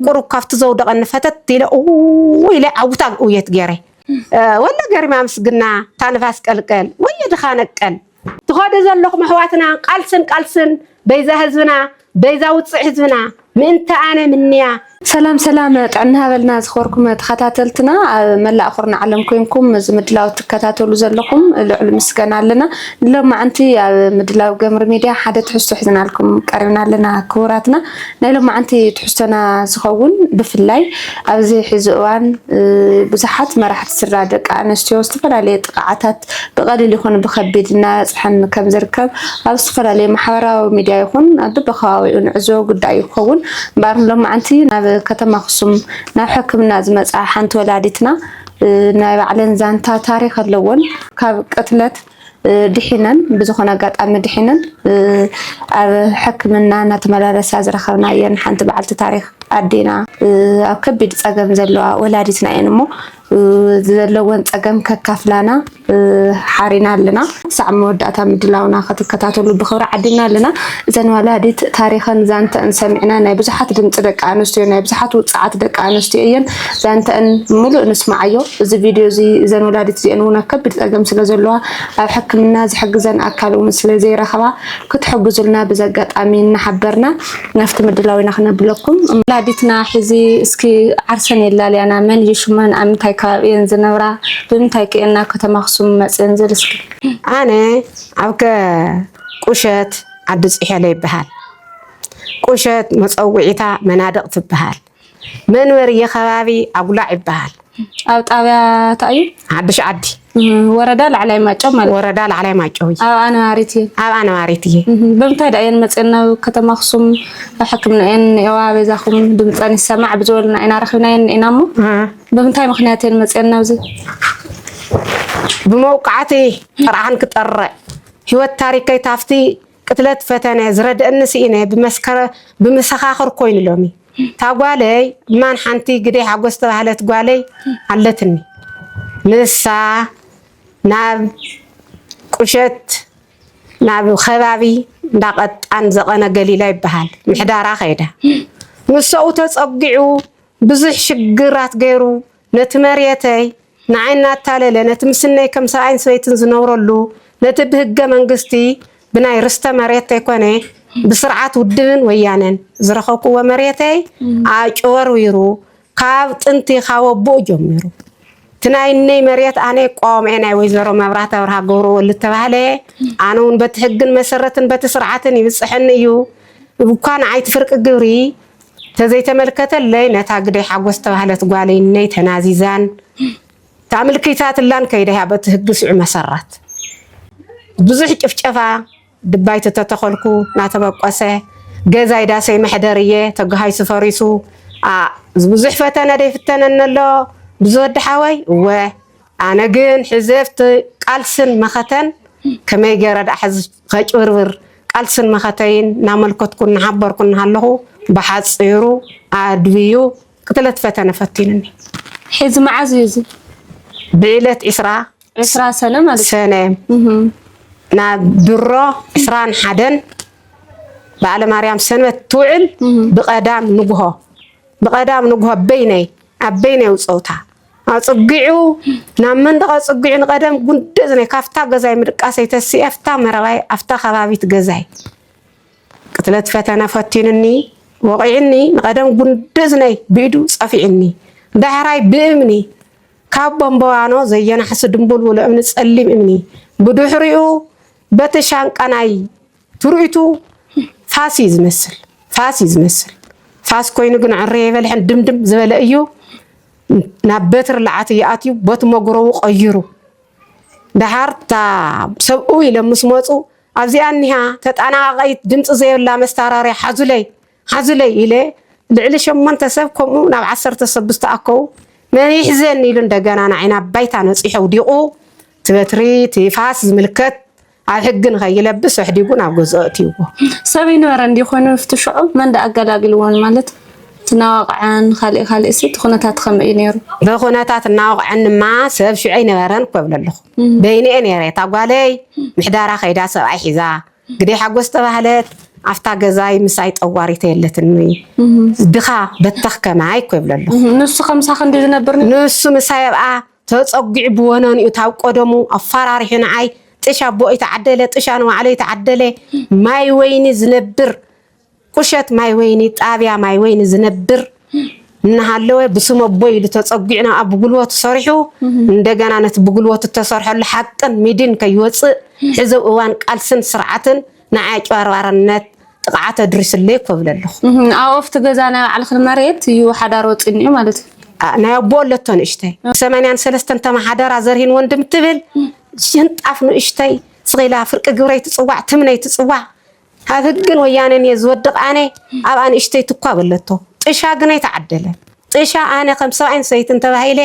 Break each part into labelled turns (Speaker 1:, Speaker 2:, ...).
Speaker 1: ቁሩብ ካብቲ ዘውደቐኒ ፈተት ኢለ እውውው ኢለ ዓውታ ግእውየት ገይረ። ወለ ገሪማ ምስግና እታ ንፋስ ቀልቀል ወየ ድኻ ነቀል። ትኸዱ ዘለኹም ኣሕዋትና ቃልስን ቃልስን በይዛ ህዝብና በይዛ ውጽዕ ህዝብና ምእንተ ኣነ ምንያ። ሰላም ሰላም
Speaker 2: ጥዕና ሃበልና ዝኸበርኩም ተኸታተልትና ኣብ መላእ ኩርናዕ ዓለም ኮንኩም እዚ ምድላው ትከታተሉ ዘለኹም ልዑል ምስጋና ኣለና። ንሎማዓንቲ ኣብ ምድላው ገምሪ ሚድያ ሓደ ትሕዝቶ ሒዝናልኩም ቀሪብና ኣለና ክቡራትና። ናይ ሎማዓንቲ ትሕዝቶና ዝኸውን ብፍላይ ኣብዚ ሕዚ እዋን ብዙሓት መራሕቲ ስድራ ደቂ ኣነስትዮ ዝተፈላለየ ጥቕዓታት ብቐሊል ይኹን ብኸቢድ እናበፅሐን ከም ዝርከብ ኣብ ዝተፈላለዩ ማሕበራዊ ሚዲያ ይኹን ኣብ በበከባቢኡ ንዕዘቦ ጉዳይ እዩ ክኸውን እምበር ሎማዓንቲ ናብ ከተማ ኣክሱም ናብ ሕክምና ዝመፅኣ ሓንቲ ወላዲትና ናይ ባዕለን ዛንታ ታሪክ ኣለዎን ካብ ቅትለት ድሒነን ብዝኾነ ኣጋጣሚ ድሒነን ኣብ ሕክምና እናተመላለሳ ዝረኸብናየን ሓንቲ በዓልቲ ታሪክ ኣዴና ኣብ ከቢድ ፀገም ዘለዋ ወላዲትና እየን እሞ ዘለወን ፀገም ከካፍላና ሓሪና ኣለና። ክሳዕ መወዳእታ ምድላውና ክትከታተሉ ብክብሪ ዓዲና ኣለና። እዘን ወላዲት ታሪክን ዛንተን ሰሚዕና ናይ ብዙሓት ድምፂ ደቂ ኣንስትዮ ናይ ብዙሓት ውፅዓት ደቂ ኣንስትዮ እየን። ዛንተኣን ምሉእ ንስማዓዮ እዚ ቪድዮ እዚ እዘን ወላዲት እዚኤን እውን ኣብ ከቢድ ፀገም ስለ ዘለዋ ኣብ ሕክምና ዝሕግዘን ኣካል እውን ስለ ዘይረኸባ ክትሕግዙልና ብዚ ኣጋጣሚ እናሓበርና ናፍቲ ምድላው ኢና ክነብለኩም ወላዲትና ሕዚ እስኪ ዓርሰን የላልያና መን እዩ ሽመን ኣብ ምንታይ ከባቢ እየን ዝነብራ ብምንታይ ከ እየን ናብ ከተማ ኣክሱም መፅእን ዝብል እስኪ ኣነ
Speaker 1: ኣብ ከ ቁሸት ዓዲ ፅሔለ ይበሃል ቁሸት መፀውዒታ መናድቕ ትበሃል መንበሪ ኸባቢ ኣጉላዕ ይበሃል። ኣብ ጣብያ
Speaker 2: እንታይ እዩ? ሓዱሽ ዓዲ።
Speaker 1: ወረዳ ላዕላይ
Speaker 2: ማይጨው ማለት ወረዳ ላዕላይ ማይጨው እዩ።
Speaker 1: ኣብኣ ነባሪት እየ።
Speaker 2: ኣብኣ ነባሪት እየ። ብምንታይ ዳ እየን መፅን ናብ ከተማ ኣክሱም ኣብ ሕክምና እየን እኒኤዋ በዛኹም ድምፀን ይሰማዕ ብዝበሉና ኢና ረኪብናየን ኢና እሞ ብምንታይ ምክንያት እየን መፅን ናብዚ? ብመውቃዕቲ ጥርዓን ክጠርዕ ህይወት ታሪከይ ታፍቲ ቅትለት ፈተነ ዝረደእኒ ስኢነ ብመሰኻኽር ኮይኑ ሎሚ እታ ጓለይ እማን ሓንቲ ግደይ ሓጎስ ዝተባህለት ጓለይ ኣለትኒ ንሳ ናብ ቁሸት ናብ ከባቢ እንዳቀጣን ዘቐነ ገሊላ ይበሃል ምሕዳራ ከይዳ ንሰኡ ተፀጊዑ ብዙሕ ሽግራት ገይሩ ነቲ መሬተይ ንዓይ እናታለለ ነቲ ምስነይ ከም ሰብኣይን ሰበይትን ዝነብረሉ ነቲ ብህገ መንግስቲ ብናይ ርስተ መሬት ተይኮነ ብስርዓት ውድብን ወያነን ዝረኸብኩዎ መሬተይ ኣጭበርቢሩ ካብ ጥንቲ ካብ ኣቦኡ ጀሚሩ እቲ ናይ እነይ መሬት ኣነ ቆምኤ ናይ ወይዘሮ መብራት ኣብርሃ ገብረወሉ ተባህለ ኣነ እውን በቲ ሕግን መሰረትን በቲ ስርዓትን ይብፅሐኒ እዩ እኳ ንዓይቲ ፍርቂ ግብሪ ተዘይተመልከተለይ ነታ ግደይ ሓጎስ ዝተባህለት ጓለይ እነይ ተናዚዛን ተኣምልኪታትላን ከይደያ በቲ ህግ ስዑ መሰረት ብዙሕ ጭፍጨፋ ድባይቲ ተተኸልኩ ናተበቆሰ ገዛይ ዳሰይ መሕደር እየ ተጋሃይሱ ፈሪሱ ብዙሕ ፈተነ ደይፍተነነሎ ብዙ ወድሓወይ እወ ኣነ ግን ሕዘፍቲ ቃልስን መኸተን ከመይ ገረ ዳኣ ሕዚ ከጭብርብር ቃልስን መኸተይን እናመልከትኩን እናሓበርኩን እናሃለኹ ብሓጺሩ ኣድብዩ ቅትለት ፈተነ ፈቲኑኒ። ሕዚ መዓዝ እዩ እዚ? ብዕለት
Speaker 1: ዕስራ ዕስራ ሰነ ማለት ሰነ ናብ ድሮ ዕስራን ሓደን በዓለ ማርያም ሰንበት ትውዕል ብቀዳም ንግሆ ብቀዳም ንግሆ በይነይ ኣብ በይነይ ጸውታ ኣጽጊዑ ናብ መንደቕ ኣጽጊዑ ንቐደም ጉንዲ እዝነይ ካብታ ገዛይ ምድቃሰይ ተሲኤ ኣብታ መረባይ ኣብታ ከባቢት ገዛይ ቅትለት ፈተነ ፈቲኑኒ ወቒዑኒ ንቐደም ጉንዲ እዝነይ ብኢዱ ጸፊዑኒ ዳሕራይ ብእምኒ ካብ ቦምቦዋኖ ዘየናሕሲ ድንቡልቡሉ እምኒ ጸሊም እምኒ ብድሕሪኡ በቲ ሻንቃ ናይ ትርኢቱ ፋስ እዩ ዝመስል ፋስ እዩ ዝመስል ፋስ ኮይኑ ግን ዕረ የበልሐን ድምድም ዝበለ እዩ ናብ በትሪ ልዓት እዩ ኣትዩ ቦቲ መጉረቡ ቀይሩ ድሓር እታ ሰብኡ ኢሎም ምስ መፁ ኣብዚኣ እኒሃ ተጠናቓቓይት ድምፂ ዘይብላ መስታራርያ ሓዙለይ ሓዙለይ ኢለ ልዕሊ ሸሞንተ ሰብ ከምኡ ናብ ዓሰርተ ሰብ ብዝተኣከቡ መን
Speaker 2: ይሕዘኒ ኢሉ እንደገና ንዓይ ናብ ባይታ ነፂሑ ኣውዲቑ እቲ በትሪ እቲ ፋስ ዝምልከት ኣብ ሕጊ ንኸይለብስ ኣሕዲጉ ናብ ገዝኦ ኣእትይዎ። ሰብ ይንበረ
Speaker 3: እንዲ ኮይኑ ኣብቲ ሽዑ መን ደኣ ኣገላግልዎን ማለት ትናዋቕዐን ካልእ ካልእ እቲ ኩነታት ከመይ እዩ ነይሩ? እቲ ኩነታት
Speaker 2: እናወቕዐንማ ሰብ ሽዑ ኣይነበረን እኮ እብለ ኣለኹ። በይነይ እየ ነይረ እታ ጓለይ ምሕዳራ ከይዳ ሰብኣይ ሒዛ ግደይ ሓጎስ ዝተባህለት ኣብታ ገዛይ ምሳይ ጠዋሪተ የለትኒ ድኻ በተኽ ከማይ እኮ ይብሎ ኣሎ ንሱ ከምሳኺ እንዲ
Speaker 3: ዝነብር ንሱ ምሳይ ኣብኣ
Speaker 2: ተፀጒዑ ብወነንኡ ታብ ቆደሙ ኣፈራሪሑ ንዓይ ጥሽ ኣቦኡ ይተዓደለ ጥሽ ኣንዋዕሎ ይተዓደለ ማይ ወይኒ ዝነብር ቁሸት ማይ ወይኒ ጣብያ ማይ ወይኒ ዝነብር እናሃለወ ብስም ኣቦይ ኢሉ ተፀጒዑ ናብኣ ብጉልበቱ ሰሪሑ እንደገና ነቲ ብጉልበቱ እተሰርሐሉ ሓቅን ሚድን ከይወፅእ ሕዚ ኣብ እዋን ቃልስን ስርዓትን ንዓይ ኣጭበርባርነት ጥቕዓት ኣድሪሱለይ እኮ እብል ኣለኹ። ኣብ ኦፍቲ ገዛ
Speaker 3: ናይ ባዕልኽን መሬት እዩ ሓዳር ወፂኒ እዩ ማለት እዩ። ናይ ኣቦ
Speaker 2: ኣለቶ ንእሽተይ ሰማንያን ሰለስተን ተመሓደራ ዘርሂን ወንድም ትብል ሽንጣፍ ንእሽተይ ስቂላ ፍርቂ ግብረይ ትፅዋዕ ትምነይ ትፅዋዕ ኣብ ህግን ወያነን እየ ዝወድቅ ኣነ ኣብ ኣንእሽተይ ትኳ በለቶ ጥሻ ግን ኣይተዓደለን ጥሻ ኣነ ከም ሰብኣይን ሰበይትን ተባሂለ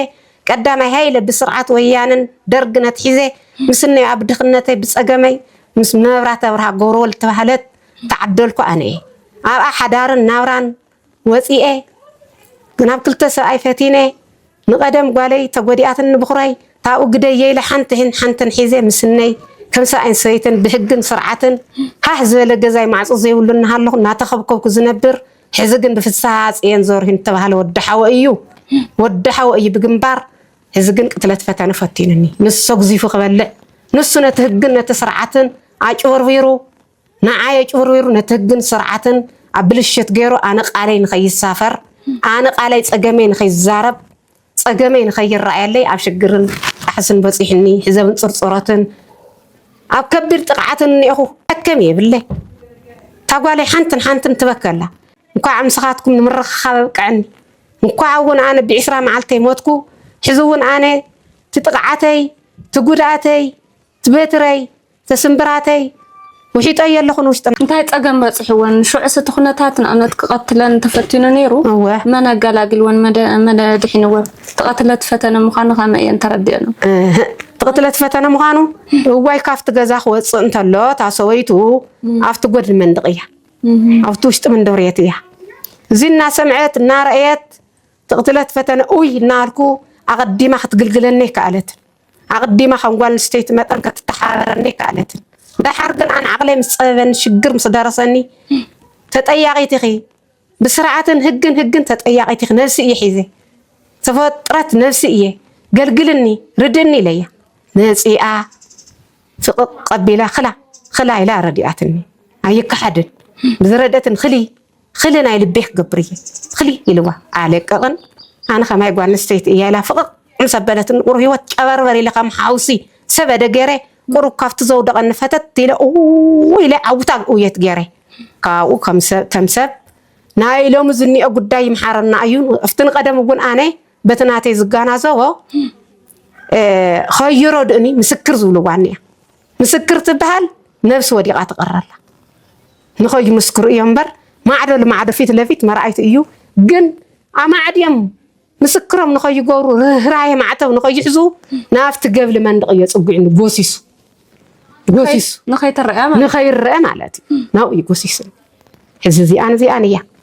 Speaker 2: ቀዳማይ ሃይለ ብስርዓት ወያነን ደርግን ኣትሒዘ ምስነዮ ኣብ ድክነተይ ብፀገመይ ምስ መብራት ኣብርሃ ገብረወልድ ተባህለት ተዓደልኩ ኣነ እየ ኣብኣ ሓዳርን ናብራን ወጺኤ ናብ ክልተ ሰብኣይ ፈቲነ ንቀደም ጓለይ ተጎዲኣትን ንብኹራይ ታብኡ ግደየ ኢለ ሓንቲን ሓንትን ሒዘ ምስነይ ከም ሰብኣይን ሰበይትን ብህግን ስርዓትን ሃህ ዝበለ ገዛይ ማዕጾ ዘይብሉ እናሃለኹ እናተኸብከብኩ ዝነብር ሕዚ ግን ብፍስሃ ጽየን ዘርሁን እተባህለ ወዲ ሓወ እዩ ወዲ ሓወ እዩ ብግንባር ሕዚ ግን ቅትለት ፈተነ ፈቲኑኒ ንሱ ሰጉዚፉ ክበልዕ ንሱ ነቲ ህግን ነቲ ስርዓትን ኣጭበርቢሩ ንዓ የጭብርቢሩ ነቲ ህግን ስርዓትን ኣብ ብልሽት ገይሩ ኣነ ቃለይ ንከይሳፈር ኣነ ቃለይ ፀገመይ ንከይዛረብ ፀገመይ ንከይረኣየለይ ኣብ ሽግርን ጣሕስን በፂሑኒ ሕዘብን ፅርፅሮትን ኣብ ከቢድ ጥቕዓትን እኒኤኹ ዕከም የብለይ እታ ጓለይ ሓንትን ሓንትን ትበከላ እንኳዕ ምስኻትኩም ንምርኽኻብ ኣብቀዐኒ እንኳዕ እውን ኣነ ብዒስራ መዓልተይ ሞትኩ ሕዚ እውን ኣነ ትጥቕዓተይ ትጉድኣተይ ትበትረይ ስምብራተይ ውሒጠዮ ኣለኹ ንውሽጢ። እንታይ ጸገም በጺሕወን?
Speaker 3: ሽዑስ እቲ ኩነታት ንኣብነት ክቐትለን ተፈቲኑ ነይሩ? እወ። መን ኣገላጊልወን? መን ኣድሒንወን? እቲ ቅትለት ፈተነ ምዃኑ ከመይ እየን ተረዲኤን? እህእ። እቲ ቅትለት ፈተነ ምዃኑ? እዋይ ካብቲ ገዛ ክወጽእ እንተሎ እታ ሰበይቱ ኣብቲ ጎድኒ መንድቕ እያ፣ ኣብቲ ውሽጢ መንደብርየት እያ። እዚ እናሰምዐት እናረእየት ትቕትለት ፈተነ ኡይ እናበልኩ ኣቐዲማ ክትግልግለኒ ኣይከኣለትን። ኣቐዲማ ከም ጓል ኣንስተይቲ መጠን ከትተሓባበረኒ ኣይከኣለትን። ደሓር ግን ኣነ ዓቕለይ ምስ ጸበበኒ ሽግር ምስ ደረሰኒ ተጠያቒት ኢኺ ብስርዓትን ህግን ህግን ተጠያቒት ኢኺ ነብሲ እየ ሒዘ ተፈጥረት ነብሲ እየ ገልግልኒ ርድእኒ ኢለያ መጺኣ ፍቕቕ ቀቢላ ክላ ክላ ኢላ ረዲኣትኒ ኣይከሓድን ብዝረደትን ክሊ ኽሊ ናይ ልቤ ክገብር እየ ኽሊ ኢልዋ ኣለቅቕን ኣነ ከማይ ጓል ኣንስተይቲ እያ ኢላ ፍቕቕ ምስ ኣበለትኒ ቁሩብ ሂወት ጨበርበር ኢለ ከም ሓውሲ ሰበደ ገይረ ቁሩብ ካብቲ ዘውደቐኒ ፈተት ኢለ ኡውው ኢለ ዓውታ ኡየት ገይረ ካብኡ ከም ሰብ ናይ ሎሚ ዝኒኦ ጉዳይ ይምሓረና እዩ ኣብቲ ንቐደም እውን ኣነ በቲ ናተይ ዝጋናዘቦ ኸይሮ ድእኒ ምስክር ዝብልዋ እኒኣ ምስክር ትበሃል ነብሲ ወዲቓ ትቕረላ ንኸይምስክሩ እዮም እምበር ማዕዶ ልማዕዶ ፊት ለፊት መርኣይቱ እዩ ግን ኣማዕድዮም ምስክሮም ንኸይገብሩ ርህራሄ ማዕተብ ንኸይሕዙ ናብቲ ገብሊ መንድቕ እዮ ፅጒዕኒ ጎሲሱ ጎሲሱ ንኸይትረአ ንኸይረአ ማለት
Speaker 2: እዩ ናብኡ እዩ ጎሲሱ ሕዚ እዚኣን እዚኣን እያ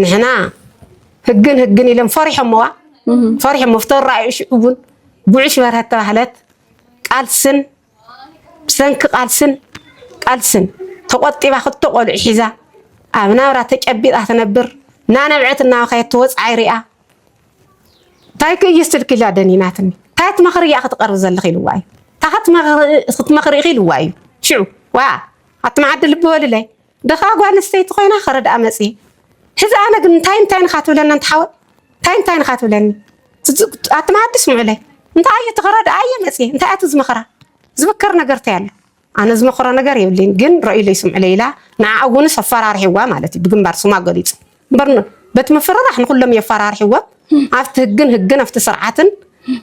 Speaker 2: ንሕና ህግን ህግን ኢሎም ፈሪሖምዋ ፈሪሖሞ ፍተራእዩ ሽዑ እውን ጉዕሽ በርሀት ተባህለት ቃልስን ብሰንኪ ቃልስን ቃልስን ተቆጢባ ክልተ ቆልዑ ሒዛ ኣብ ናብራ ተጨቢጣ ትነብር እናነብዐት እናበኸየት ትወፅዓይ ሪኣ እንታይ ክእዩ ስልኪ ኢላ ደኒናትኒ እንታይ ትመኽሪ እያ ክትቐርብ ዘለኺ ኢልዋ እዩ እታ ክትመኽሪ ኢኺ ኢልዋ እዩ ሽዑ ዋ ኣቲ መዓዲ ልቢ በልለይ ድኻ ጓል ኣንስተይቲ ኮይና ክርድኣ መጽየ ሕዚ ኣነ ግን እንታይን እንታይን እኻ ትብለኒ ኣንቲ ሓወይ እንታይን እንታይን እኻ ትብለኒ ኣቲ መኣዲ ስምዑለይ እንታይ ኣየ እቲ ክረድኣ ኣየ መጽየ እንታይ ኣቲ ዝመኽራ ዝምከር ነገር እንታይ ኣሎ ኣነ ዝመኽሮ ነገር የብለይን ግን ረእዩለይ ስምዑለይ ኢላ ንዓኣ እውንስ ኣፈራርሒዋ ማለት እዩ ብግንባር ስማ ገሊጹ እምበር በቲ ምፍርራሕ ንኩሎም የፈራርሒዎም ኣብቲ ህግን ህግን ኣብቲ ስርዓትን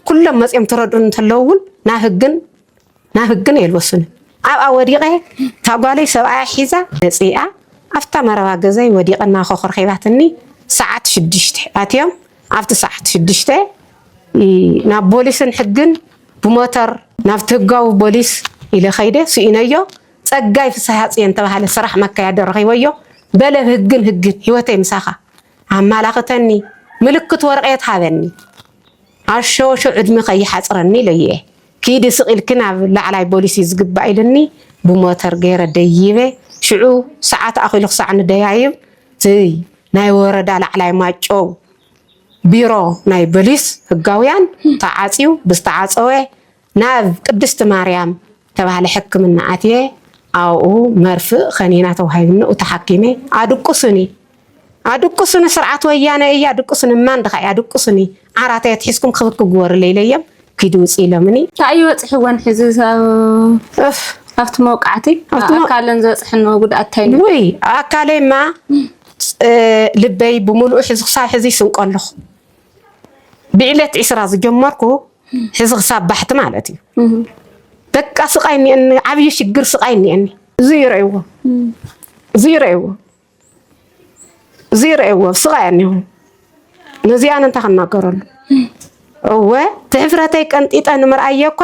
Speaker 2: ኩሎም መጽዮም ትረድኡን እንተለዉ እውን ናብ ህግን ናብ ህግን የልወሱንን ኣብኣ ወዲቐ እታ ጓለይ ሰብኣያ ሒዛ መጺኣ ኣብታ መረባ ገዛይ ወዲቐ እናኾኾርኼባትኒ ሰዓት ሽዱሽተ ኣትዮም ኣብቲ ሰዓት ሽዱሽተ ናብ ቦሊስን ሕግን ብሞተር ናብቲ ህጋዊ ቦሊስ ኢለ ከይደ ስኢነዮ ጸጋይ ፍስሃጽየን ተባሃለ ስራሕ መካያዶ ረኺበዮ በለ ብህግን ህግን ህይወተይ ምሳኻ ኣማላኽተኒ ምልክት ወረቐት ሃበኒ ኣሸወሾ ዕድሚ ከይሓጽረኒ ኢለዮ እየ ኪዲ ስቅ ኢልኪ ናብ ላዕላይ ቦሊስ እዩ ዝግባእ ኢሉኒ ብሞተር ገይረ ደይበ ሽዑ ሰዓት ኣኪሉ ክሳዕ ንደያይብ ትይ ናይ ወረዳ ላዕላይ ማይጨው ቢሮ ናይ ቦሊስ ህጋውያን ተዓጽዩ ብዝተዓጸወ ናብ ቅድስቲ ማርያም ተባህለ ሕክምና ኣትየ ኣብኡ መርፍእ ከኒና ተዋሂብኒ ተሓኪመ ኣድቁሱኒ ኣድቁሱኒ ስርዓት ወያነ እያ ድቁሱኒ ማን ድካ እያ ድቁሱኒ ዓራተይ ኣትሒዝኩም ክብር ክግበሩለይ ኢለዮም ኪዱ ውጽ ኢሎምኒ። ታይ እዩ በፂሕወን
Speaker 3: ሕዚ እፍ ኣብቲ መውቃዕቲ ኣካለን ዝበፅሐንዎ ጉድኣት ታይ እዩ? ውይ ኣካለይማ
Speaker 2: ልበይ ብምሉኡ ሕዚ ክሳብ ሕዚ ይስንቆ ኣለኹ ብዕለት ዒስራ ዝጀመርኩ ሕዚ ክሳብ ባሕቲ ማለት እዩ በቃ ስቃይ እኒአኒ ዓብዪ ሽግር ስቃይ እኒአኒ እዚ ይረእይዎ እዚ ይረእይዎ ዘይረእዎ ስቃ እያ እኒሆ ነዚኣን እንታይ ክናገረሉ እወ ትሕፍረተይ ቀንጢጠ ንምርኣየ እኳ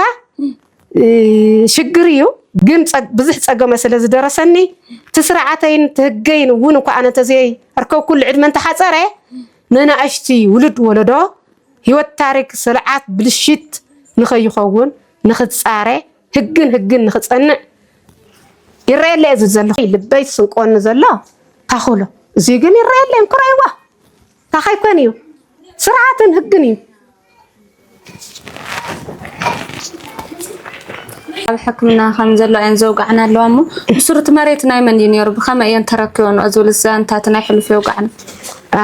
Speaker 2: ሽግር እዩ ግን ብዙሕ ፀገመ ስለ ዝደረሰኒ ትስርዓተይን ትህገይን እውን እኳ ኣነ ተዘይ ኣርከብኩሉ ዕድመ እንተሓፀረ መናእሽቲ ውሉድ ወለዶ ህይወት ታሪክ ስርዓት ብልሽት ንኸይኸውን ንኽፃረ ህግን ህግን ንክፀንዕ ይረየለ እዚ ዘለኹ ልበይ ስንቆኒ ዘሎ ታኹሎ እዚ ግን ይረየለ እንኩራይዋ ታኻይ ኮን እዩ ስርዓትን ህግን እዩ
Speaker 3: ኣብ ሕክምና ከም ዘሎ እየን ዘውጋዕና ኣለዋ እሞ ብሱሩ እቲ መሬት ናይ መን እዩ ነይሩ ብኸመይ እየን ተረኪበን ዝብል ዛንታት ናይ ሕሉፍ የውጋዕና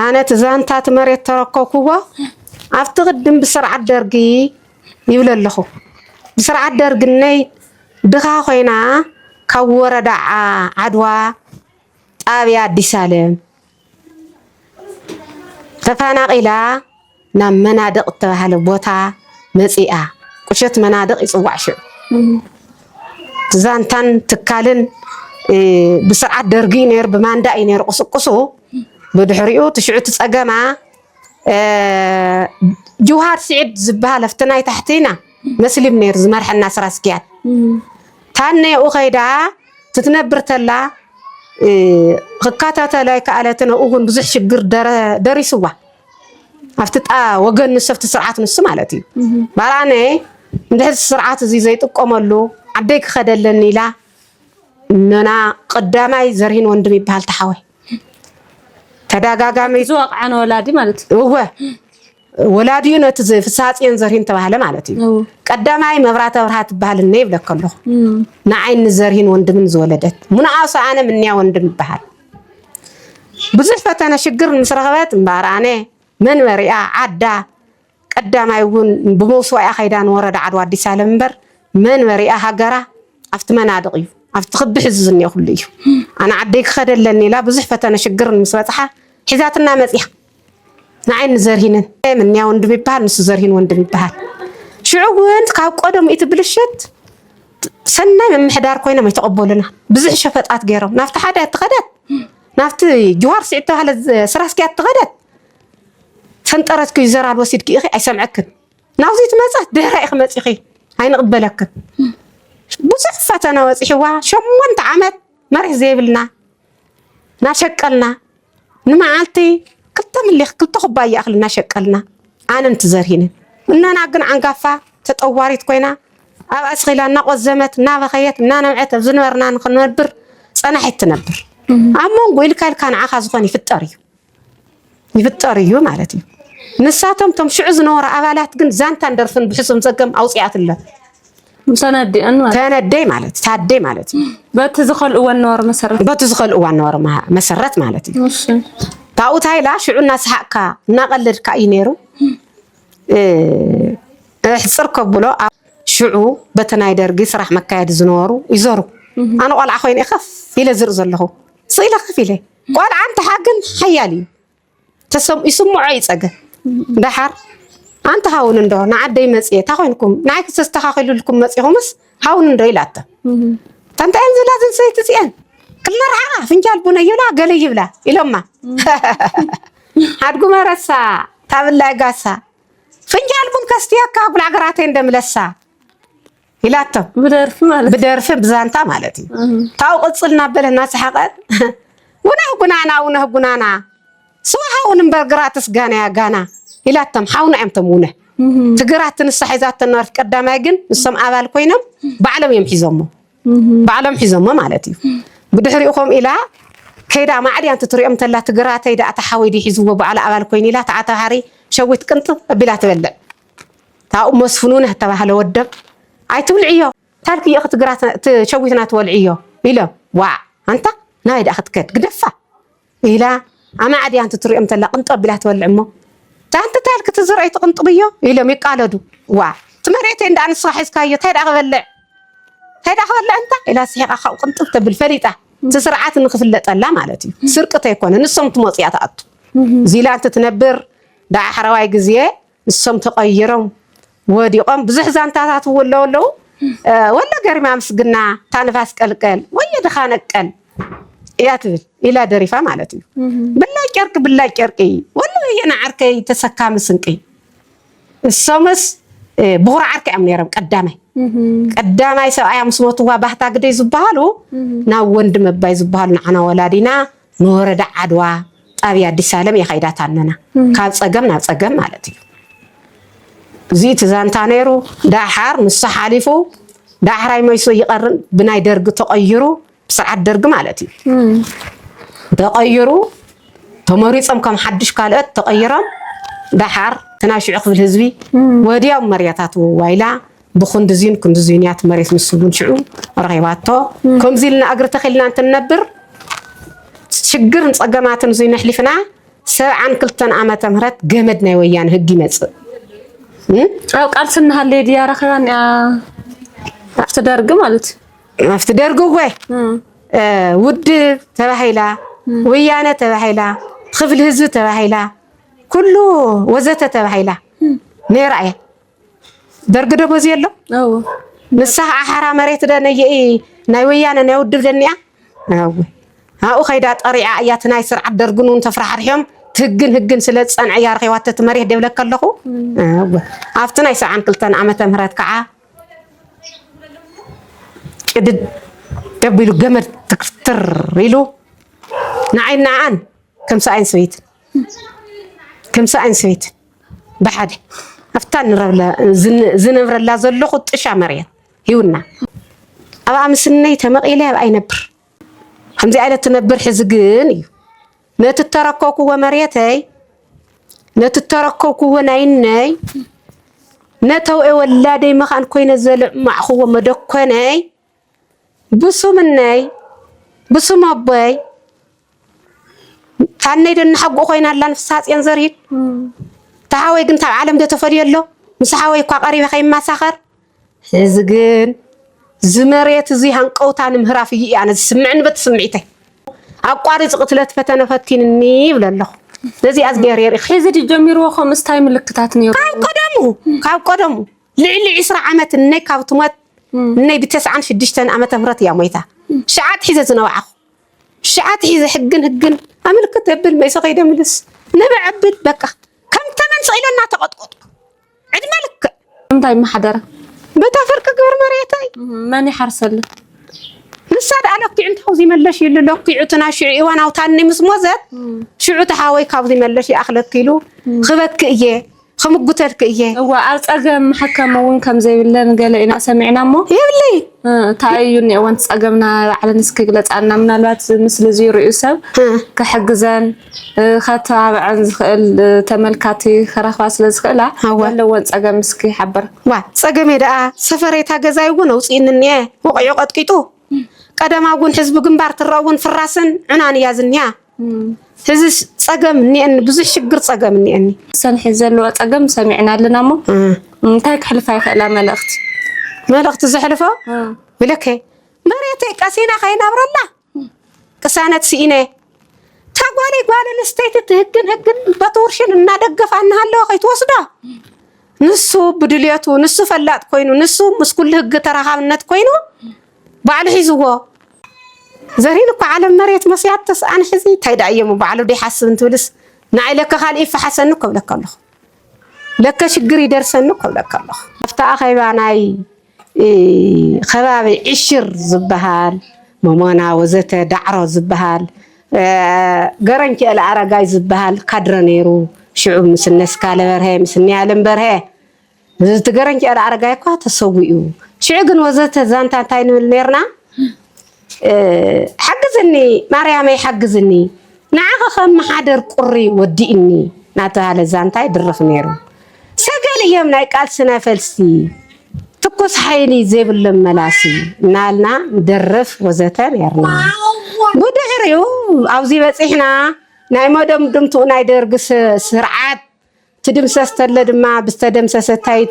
Speaker 3: ኣነ እቲ
Speaker 2: ዛንታት መሬት ተረከብኩዎ ኣብቲ ቅድም ብስርዓት ደርጊ ይብል ኣለኹ። ብስርዓት ደርግነይ ድኻ ኮይና ካብ ወረዳ ዓድዋ ጣብያ ኣዲስ ኣለም ተፈናቒላ ናብ መናድቕ እተባህለ ቦታ መፂኣ። ቁሸት መናድቕ ይፅዋዕ ሽዑ ዛንታን ትካልን ብስርዓት ደርጊ ነይሩ ብማንዳ እዩ ነይሩ ቁስቁሱ ብድሕሪኡ ትሽዑ ትፀገማ ጅውሃር ስዒድ ዝበሃል ኣብቲ ናይ ታሕቲና መስሊም ነይሩ ዝመርሐና ስራ ኣስኪያድ ታነ ኣብኡ ከይዳ ትትነብር ተላ ክከታተሎ ኣይከኣለትን። ኣብኡ እውን ብዙሕ ሽግር ደሪስዋ ኣብቲ ጣ ወገን ንሱ ኣብቲ ስርዓት ንሱ ማለት እዩ ባራነ እንድሕር ስርዓት እዚ ዘይጥቀመሉ ዓደይ ክኸደለኒ ኢላ ነና ቀዳማይ ዘርሂን ወንድም ይበሃል ተሓወይ ተደጋጋሚ ዝወቕዓን ወላዲ ማለት
Speaker 3: እዩ እወ
Speaker 2: ወላዲ እዩ ነቲ ፍሳፅን ዘርሂን ተባህለ ማለት እዩ ቀዳማይ መብራተ ብርሃ ትበሃል እነ ይብለከ ኣለኹ ንዓይ ንዘርሂን ወንድምን ዝወለደት ሙንኣሱ ኣነ ምንያ ወንድም ይበሃል ብዙሕ ፈተነ ሽግር ምስ ረኸበት እምበኣር ኣነ መንበሪኣ ዓዳ ቀዳማይ እውን ብመውስዋኢኣ ከይዳ ንወረዳ ዓድዋ ኣዲስ ኣለም እምበር መንበሪኣ ሃገራ ኣብቲ መናድቕ እዩ ኣብቲ ክቢ ሕዚ ዝኒኦ ኩሉ እዩ ኣነ ዓደይ ክኸደ ኣለኒ ኢላ ብዙሕ ፈተነ ሽግርን ምስ በፅሓ ሒዛትና መፅያ ንዓይ ንዘርሂንን ምንያ ወንድም ይበሃል ንሱ ዘርሂን ወንድም ይበሃል ሽዑ እውን ካብ ቀደሙ እቲ ብልሽት ሰናይ ምምሕዳር ኮይኖም ኣይተቐበሉና ብዙሕ ሸፈጣት ገይሮም ናብቲ ሓደ እትኸደት ናብቲ ጅዋር ስዒድ ተባሃለ ስራ ኣስኪያ እትኸደት ፈንጠረት ክዩ ዘራድ ወሲድኪ ኢኺ ኣይሰምዐክን ናብዚ ትመጻት ድሕራይ ኢኺ መጺኺ ኣይንቕበለክን ብዙሕ ፈተና ወጺሕዋ ሸሞንተ ዓመት መሬት ዘይብልና ናሸቀልና ንመዓልቲ ክልተ ምሊኽ ክልተ ኩባያ እኽሊ እናሸቀልና ኣነን ትዘርሂንን እነና ግን ዓንጋፋ ተጠዋሪት ኮይና ኣብ ኣስኺላ እናቆዘመት እናበኸየት እናነብዐት ኣብ ዝነበርና ንክንነብር ፀናሒት ትነብር ኣብ መንጎ ኢልካ ኢልካ ንዓኻ ዝኾን ይፍጠር እዩ ይፍጠር እዩ ማለት እዩ። ንሳቶም ቶም ሽዑ ዝነበሩ ኣባላት ግን ዛንታን ደርፍን ብሕሱም ጸገም ኣውጽኣትለን ተነዲአን
Speaker 3: ማለት ተነደይ ማለት
Speaker 2: ታደይ ማለት እዩ። በቲ ዝኸልእዎ
Speaker 3: ነበሩ መሰረት በቲ ዝኸልእዎ ነበሩ መሰረት
Speaker 2: ማለት እዩ። ካብኡ ታይላ ሽዑ እናሰሓቅካ እናቀለድካ እዩ ነይሩ ሕፅር ከብሎ ሽዑ በቲ ናይ ደርጊ ስራሕ መካየዲ ዝነበሩ ይዘሩ ኣነ ቆልዓ ኮይነ ከፍ ኢለ ዝርኢ ዘለኹ ስኢለ ከፍ ኢለ ቆልዓ እንትሓግም ሓያል እዩ ይስምዖ እዩ ፀገም ደሓር ኣንቲ ሃውን እንዶ ንዓደይ መፅየ እታ ኮይንኩም ንዓይ ክተስተኻኺልልኩም መፂኹምስ ሃውን እንዶ ኢላቶ ተንታይን ዝላ ዝንሰይቲ ፅየን ክመርዓኻ ፍንጃል ቡነ ይብላ ገለ ይብላ ኢሎማ ሓድጉ መረሳ ታብላይ ጋሳ ፍንጃል ቡን ከስትየካ ጉላዕ ግራተይ እንደምለሳ ኢላቶ ብደርፊ ብዛንታ ማለት እዩ ካብኡ ቅፅል እናበለ እናሰሓቐት ውነህ ጉናና ውነህ ጉናና ስዋ ሃውን እምበር ግራትስ ጋናያ ጋና ኢላቶም ሓውና እዮም ቶም ውነህ ትግራት ትንሳ ሒዛቶ ነበርት ቀዳማይ ግን ንሶም ኣባል ኮይኖም ባዕሎም እዮም ሒዞሞ ባዕሎም ሒዞሞ ማለት እዩ ብድሕሪኡ ከምኡ ኢላ ከይዳ ማዕድያ እንትትሪኦም ተላ ትግራተይ ዳኣ ተሓወይ ድዩ ሒዝዎ ባዕላ ኣባል ኮይኑ ኢላ ተዓታሃሪ ሸዊት ቅንጥብ ኣቢላ ትበልዕ ታኡ መስፍኑ ናተባህለ ወደም ኣይትብልዕዮ ታልክዮ ክትሸዊትና ትወልዕዮ ኢለ ዋዕ ኣንታ ናበይ ዳኣ ክትከድ ግደፋ ኢላ ኣማዕድያ እንትትሪኦም ተላ ቅንጠብ ኢላ ትበልዕ እሞ ታንቲ ታልክ ትዝረይ ትቅንጥብዮ ኢሎም ይቃለዱ ዋዕ እቲ መሬተይ እንዳ ንስኻ ሒዝካዮ ታይ ዳኣ ክበልዕ ታይ ዳኣ ክበልዕ እንታ ኢላ ስሒቃ ካብኡ ቅንጥብ ተብል ፈሊጣ እቲ ስርዓት ንክፍለጠላ ማለት እዩ ስርቂ ተይኮነ ንሶም ትመፁ እያ ትኣቱ እዚላ እንትትነብር ዳሓረዋይ ግዜ ንሶም ተቐይሮም ወዲቖም ብዙሕ ዛንታታት እው ኣለዉ ኣለዉ ወሎ ገሪማ ምስግና እታ ንፋስ ቀልቀል ወየ ድኻ ነቀል እያ ትብል ኢላ ደሪፋ ማለት እዩ ብላጭ ጨርቂ ብላጭ ጨርቂ ወሎ ወየ ንዓርከይ ተሰካሚ ስንቂ እሶምስ ብኹር ዓርኪ እዮም ነይሮም ቀዳማይ ቀዳማይ ሰብኣያ ምስ ሞትዋ ባህታ ግደይ ዝበሃሉ ናብ ወንድም ኣባይ ዝበሃሉ ንዓና ወላዲና ንወረዳ ዓድዋ ጣብያ ኣዲሳለም የኸይዳታ ኣለና ካብ ፀገም ናብ ፀገም ማለት እዩ እዚ እቲ ዛንታ ነይሩ ዳሓር ንሱ ሓሊፉ ዳሕራይ መይሶ ይቐርን ብናይ ደርጊ ተቐይሩ ብስርዓት ደርጊ ማለት እዩ ተቐይሩ ተመሪፆም ከም ሓድሽ ካልኦት ተቐይሮም ዳሓር እቲ ናይ ሽዑ ክፍል ህዝቢ ወዲያው መርያታቱ ዋይላ ብኽንድዚን ክንድዚንያት መሬት ንሱ ግን ሽዑ ረኺባቶ። ከምዚ ኢልና እግሪ ተኺልና እንትንነብር ሽግርን ጸገማትን እዙይ ነሕሊፍና ሰብዓን ክልተን ዓመተ ምህረት ገመድ ናይ ወያነ ህግ ይመጽእ ኣብ ቃልሲ እናሃለየ ድያ ረኺባን እያ ኣብቲ ደርጊ ማለት እዩ ኣብቲ ደርጊ እወ ውድብ ተባሂላ ወያነ ተባሂላ ክፍሊ ህዝቢ ተባሂላ ኩሉ ወዘተ ተባሂላ ነይራ እያ ደርግ ዶ በዚ ኣሎ ንስኻ ኣሓራ መሬት ደ ነይኢ ናይ ወያነ ናይ ውድብ ደኒኣ ኣብኡ ከይዳ ጠሪዓ እያ እቲ ናይ ስርዓት ደርግን እውን ተፍራሕርሕዮም ትህግን ህግን ስለ ዝፀንዐ እያ ረኪባቶ እቲ መሬት ደብለካ ኣለኹ ኣብቲ ናይ ሰብዓን ክልተን ዓመተ ምህረት ከዓ ጭድድ ደቢሉ ገመድ ትክትር ኢሉ ንዓይ ንዓኣን ከምሰኣይን ሰበይትን ከምሰኣይን ሰበይትን ብሓደ ኣብታ ዝነብረላ ዘለኹ ጥሻ መሬት ሂውና ኣብኣ ምስነይ ተመቒለ ኣብኣ ይነብር ከምዚ ዓይነት ትነብር ሕዚ ግን እዩ ነቲ እተረከብክዎ መሬተይ ነቲ እተረከብክዎ ናይነይ ነተውዒ ወላደይ መኻን ኮይነ ዘለማዕኽዎ መደኮነይ ብሱም እነይ ብሱም ኣቦይ ታነይ ዶ እናሓጉኡ ኮይና ኣላ ንፍሳጽዮን ዘርሂድ ተሓወይ ግን ካብ ዓለም ዶ ተፈልዮ ኣሎ ምስ ሓወይ እኳ ቀሪበ ከይማሳኸር እዚ ግን ዝመሬት እዚ ሃንቀውታ ንምህራፍ እዩ ኣነ ዝስምዕኒ በቲ ስምዒተይ ኣቋሪፅ ቅትለት ፈተነ ፈቲንኒ ይብለ ኣለኹ ነዚ ኣዝገር የርኢ ሕዚ ድጀሚርዎ ከምስታይ
Speaker 3: ምልክታት ነይሩ ካብ ቀደሙ ካብ
Speaker 2: ቀደሙ ልዕሊ ዕስራ ዓመት እነይ ካብ ትሞት እነይ ብ ተስዓን ሽዱሽተን ዓመተ ምህረት እያ ሞይታ ሽዓ ኣትሒዘ ዝነባዕኹ ሽዓ ኣትሒዘ ህግን ህግን ኣምልክት እብል መይሰ ከይደ ምልስ ንብዕ እብል በቃ ከም ተመን ስቅ ኢለ እናተቀጥቆጥኩ ዕድመ ልክዕ እንታይ ማሕደረ
Speaker 3: በታ ፍርቂ
Speaker 2: ግብሪ መሬተይ መን ይሓርሰለ ንሳ ደኣ ለኪዑ እንተ ካብዚ መለሽ ይሉ ለኪዑ እቲ ናይ ሽዑ እዋን ኣውታኒ ምስ ሞዘት ሽዑ እቲ ሓወይ ካብዚ መለሽ ይኣኽለኪ ኢሉ ክበኪ እየ ክምጉተልኪ እየ። እወ ኣብ ጸገም
Speaker 3: መሐከሚ ውን ከም ዘይብለን ገለ ኢና ሰሚዕና እሞ የብለይ
Speaker 2: እንታይ እዩ እኒኦ
Speaker 3: ወንቲ ጸገምና ባዕለን እስኪ ግለጻልና ምናልባት ምስሊ እዚ ሪኡ ሰብ ክሕግዘን ከተባብዐን ዝኽእል ተመልካቲ ክረኽባ ስለ ዝኽእላ ኣወ። ዘለወን ጸገም እስኪ ይሓብር። ዋ ጸገመይ
Speaker 2: ደኣ ሰፈረይ እታ ገዛይ እውን ኣውጺእኒ እኒኤ ወቒዑ ቀጥቂጡ ቀደማ እውን ሕዝቢ ግንባር ትረእ እውን ፍራስን ዑናን እያ ዝኒኣ ሕዚ ፀገም እኒአኒ ብዙሕ ሽግር ፀገም እኒአኒ ሰንሒ ዘለዎ
Speaker 3: ፀገም ሰሚዕና ኣለና እሞ እንታይ ክሕልፋ ይኽእላ መልእኽቲ
Speaker 2: መልእኽቲ ዘሕልፎ ብለከ መሬተይ ቀሲና ከይነብረላ ቅሳነት ስኢነ ታጓሊ ጓል ኣንስተይቲ ትህግን ህግን በትውርሽን እናደገፋ እናሃለወ ከይትወስዶ ንሱ ብድልየቱ ንሱ ፈላጥ ኮይኑ ንሱ ምስ ኩሉ ህግ ተረካብነት ኮይኑ ባዕሉ ሒዝዎ ዘሪን እኳ ዓለም መሬት መስያት ተስኣን ሕዚ እንታይ ደኣ እየሞ ባዕሉ ዶ ይሓስብ እንትብልስ ንዓይ ለከ ካልእ ይፈሓሰኒ እኮ እብለካ ኣለኹ ለከ ሽግር ይደርሰኒ እኮ እብለካ ኣለኹ ኣብቲ ኣኼባ ናይ ከባቢ ዕሽር ዝበሃል መሞና ወዘተ ዳዕሮ ዝበሃል ገረንቸኤል ኣረጋይ ዝበሃል ካድረ ነይሩ ሽዑ ምስ እነ ስካለ በርሀ ምስ እነ ያለም በርሀ እቲ ገረንጭኤል ኣረጋይ እኳ ተሰዊኡ ሽዑ ግን ወዘተ ዛንታ እንታይ ንብል ነርና ሓግዝኒ ማርያመይ ሓግዝኒ ንዓኸ ከመሓደር ቁሪ ወዲእኒ ናተባህለ ዛንታ ይድርኽ ነይሩ ሰገል እዮም ናይ ቃልሲ ናይ ፈልሲ ትኩስ ሓይሊ ዘይብሎም መላሲ እናልና ንደርፍ ወዘተ ነርና ብድሕሪኡ ኣብዚ በፂሕና ናይ መደምድምትኡ ናይ ደርጊ ስርዓት ትድምሰስ ተለ ድማ ብዝተደምሰሰ እታይ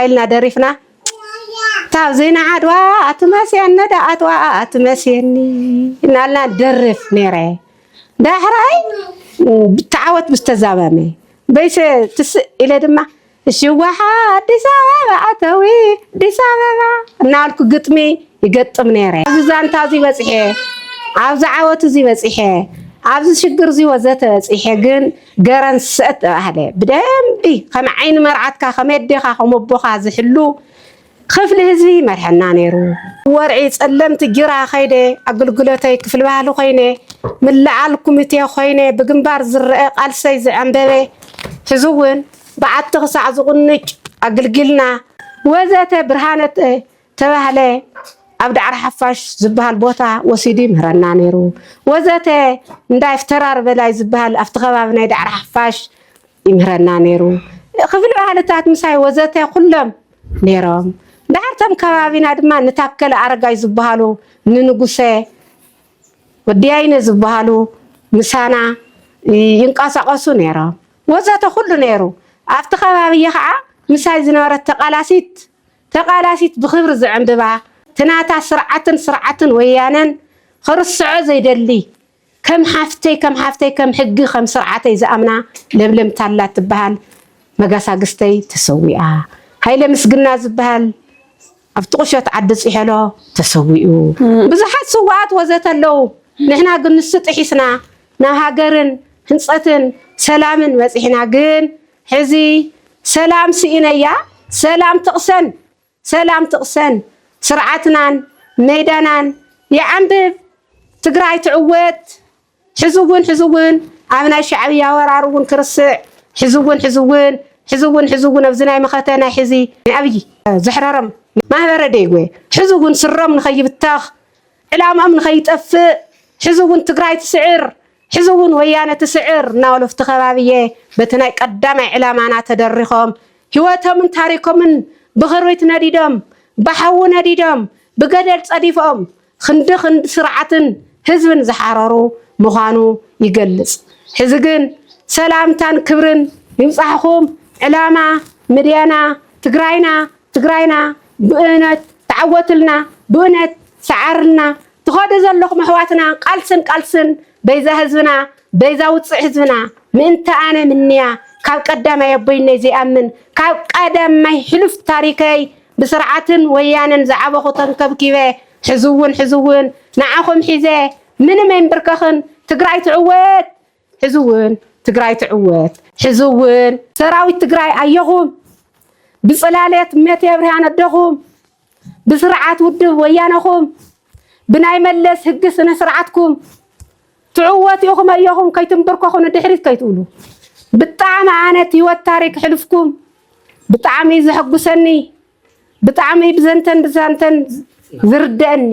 Speaker 2: እልና ደሪፍና ካብ ዜና ዓድዋ ኣትመስየኒ ዶ ኣትዋ ኣትመስየኒ እናልና ንደርፍ ነይረ ዳሕራይ ብተዓወት ብዝተዛመመ በይሰ ትስእ ኢለ ድማ ሽዋሓ ኣዲስ ኣበባ ኣተዊ ኣዲስ ኣበባ እናበልኩ ግጥሚ ይገጥም ነይረ። ኣብዚ ዛንታ እዚ በፂሐ፣ ኣብዚ ዓወት እዚ በፂሐ፣ ኣብዚ ሽግር እዚ ወዘተ በፂሐ ግን ገረን ሰጥ ተባህለ ብደንቢ ከም ዓይኒ መርዓትካ ከም ኣዴኻ ከም ኣቦኻ ዝሕሉ ክፍሊ ህዝቢ ይመርሐና ነይሩ። ወርዒ ጸለምቲ ጅራ ከይደ ኣግልግሎተይ ክፍሊ ባህሊ ኮይነ ምልዓል ኩሚቴ ኮይነ ብግንባር ዝረኣ ቃልሰይ ዝዐንበበ ሕዚ ውን በዓቲ ክሳዕ ዝቑንጭ ኣግልጊልና። ወዘተ ብርሃነ ተባህለ ኣብ ዳዕሮ ሓፋሽ ዝብሃል ቦታ ወሲዱ ይምህረና ነይሩ ወዘተ እንዳይ ፍተራር በላይ ዝብሃል ኣብቲ ከባቢ ናይ ዳዕሮ ሓፋሽ ይምህረና ነይሩ ክፍሊ ባህልታት ምሳይ ወዘተ ኩሎም ነይሮም ዳሓር ቶም ከባቢና ድማ ንታከለ ኣረጋይ ዝብሃሉ ንንጉሰ ወዲያይነ ዝብሃሉ ምሳና ይንቀሳቀሱ ነይሮም ወዘተ ኩሉ ነይሩ ኣብቲ ከባቢ ከዓ ምሳይ ዝነበረት ተቃላሲት ተቃላሲት ብክብሪ ዝዕንብባ ትናታ ስርዓትን ስርዓትን ወያነን ኽርስዖ ዘይደሊ ከም ሓፍተይ ከም ሓፍተይ ከም ሕጊ ከም ስርዓተይ ዝኣምና ለምለም ታላ ትብሃል መጋሳግስተይ ተሰዊኣ ሃይለ ምስግና ዝብሃል ኣብቲ ቁሸት ዓዲ ጺሔሎ ተሰዊኡ ብዙሓት ስውኣት ወዘተ ኣለው ንሕና ግን ንሱ ጥሒስና ናብ ሃገርን ህንጸትን ሰላምን በጺሕና ግን ሕዚ ሰላም ስኢነያ ሰላም ትቅሰን ሰላም ትቅሰን ስርዓትናን ሜዳናን ይዓንብብ ትግራይ ትዕወት ሕዚ ውን ሕዚ ውን ኣብ ናይ ሻዕብያ ወራር ውን ክርስዕ ሕዚ ውን ሕዚ ውን ሕዚ ውን ሕዚ ውን ኣብዚ ናይ መኸተ ናይ ሕዚ ናይ ኣብይ ዘሕረሮም ማህበረ ዴጉ ሕዚ ውን ስሮም ንከይብተኽ ዕላምኦም ንኸይጠፍእ ሕዚ እውን ትግራይ ትስዕር፣ ሕዚ እውን ወያነ ትስዕር እናበሉ ኣብቲ ከባቢ እየ በቲ ናይ ቀዳማይ ዕላማና ተደሪኾም ህይወቶምን ታሪኮምን ብኽርቢት ነዲዶም፣ ብሓዊ ነዲዶም፣ ብገደል ፀዲፎም ኽንዲ ኽንዲ ስርዓትን ህዝብን ዝሓረሩ ምዃኑ ይገልፅ። ሕዚ ግን ሰላምታን ክብርን ይብፃሕኹም ዕላማ ምድያና ትግራይና ትግራይና ብእነት ተዓወትልና ብእነት ሰዓርልና ትኸዱ ዘለኹም ኣሕዋትና ቃልስን ቃልስን በይዛ ህዝብና በይዛ ውፅዕ ህዝብና ምእንቲ ኣነ ምንያ ካብ ቀዳማይ ኣቦይነይ ዘይኣምን ካብ ቀዳማይ ሕሉፍ ታሪከይ ብስርዓትን ወያነን ዝዓበኹ ተንከብኪበ ሕዝውን ሕዝውን ንዓኹም ሒዘ ምንም ኣይምብርከኽን ትግራይ ትዕወት ሕዚ እውን ትግራይ ትዕወት! ሕዚ እውን ሰራዊት ትግራይ ኣየኹም! ብፅላልት እመቴ ብርሃን ኣደኹም! ብስርዓት ውድብ ወያነኹም! ብናይ መለስ ህግ ስነ ስርዓትኩም! ትዕወቱ ኢኹም ኣየኹም! ከይትምብርከኹ ንድሕሪት ከይትብሉ! ብጣዕሚ ኣነ እቲ ህይወት ታሪክ ሕልፍኩም ብጣዕሚ እዩ ዘሐጉሰኒ! ብጣዕሚ ብዘንተን ብዛንተን ዝርደእኒ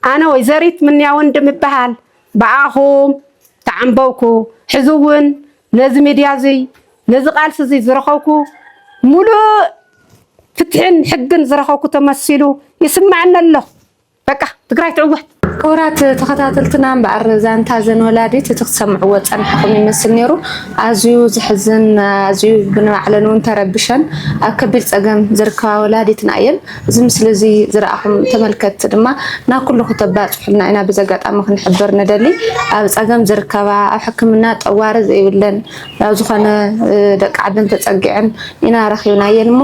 Speaker 2: ኣነ ወይዘሪት ምንያ ወንድም እበሃል ብኣኹም ተዓምበውኩ ሕዚ እውን ነዚ ሚድያ እዙይ ነዚ ቃልሲ እዙይ ዝረኸብኩ ሙሉእ ፍትሕን ሕግን ዝረኸብኩ ተመሲሉ ይስመዐኒ ኣሎ። በቃ ትግራይ ትዕወት።
Speaker 3: ክቡራት ተኸታተልትና እምበኣር ዛንታ እዘን ወላዲት እቲ ክሰምዕዎ ዝፀናሕኹም ይመስል ነይሩ ኣዝዩ ዝሕዝን ኣዝዩ ብንባዕለን እውን ተረቢሸን ኣብ ከቢድ ፀገም ዝርከባ ወላዲትና እየን እዚ ምስሊ እዚ ዝረኣኹም ተመልከትቲ ድማ ናብ ኩሉ ክተባፅሑልና ኢና በዚ ኣጋጣሚ ክንሕብር ንደሊ ኣብ ፀገም ዝርከባ ኣብ ሕክምና ጠዋሪ ዘይብለን ናብ ዝኾነ ደቂ ዓድን ተፀጊዐን ኢና ረኺብናየን እሞ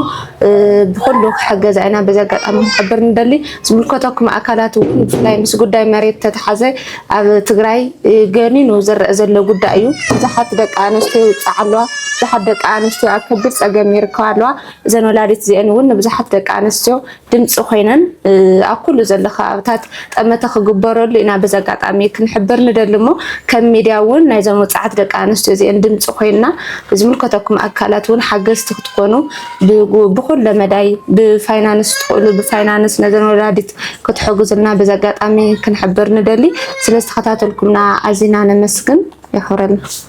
Speaker 3: ብኩሉ ክሕገዛ ኢና በዚ ኣጋጣሚ ክንሕብር ንደሊ። ዝምልከተኩም ኣካላት እውን ብፍላይ ምስ ጉዳይ መሬት ተተሓዘ ኣብ ትግራይ ገኒኑ ዝረአ ዘሎ ጉዳይ እዩ። ብዙሓት ደቂ ኣንስትዮ ይውፃዓ ኣለዋ፣ ብዙሓት ደቂ ኣንስትዮ ኣብ ከቢድ ፀገም ይርከባ ኣለዋ። እዘን ወላዲት እዚአን እውን ንብዙሓት ደቂ ኣንስትዮ ድምፂ ኮይነን ኣብ ኩሉ ዘሎ ከባብታት ጠመተ ክግበረሉ ኢና በዚ ኣጋጣሚ ክንሕብር ንደሊ እሞ ከም ሚድያ እውን ናይዞም ወፃዓት ደቂ ኣንስትዮ እዚአን ድምፂ ኮይና ዝምልከተኩም ኣካላት እውን ሓገዝቲ ክትኮኑ ብኩለ መዳይ ብፋይናንስ ትኽእሉ ብፋይናንስ ነዘን ወላዲት ክትሕግዙልና በዚ ኣጋጣሚ ክንሕብር ንደሊ ስለዝተኸታተልኩምና ኣዚና ነመስግን የኽብረልና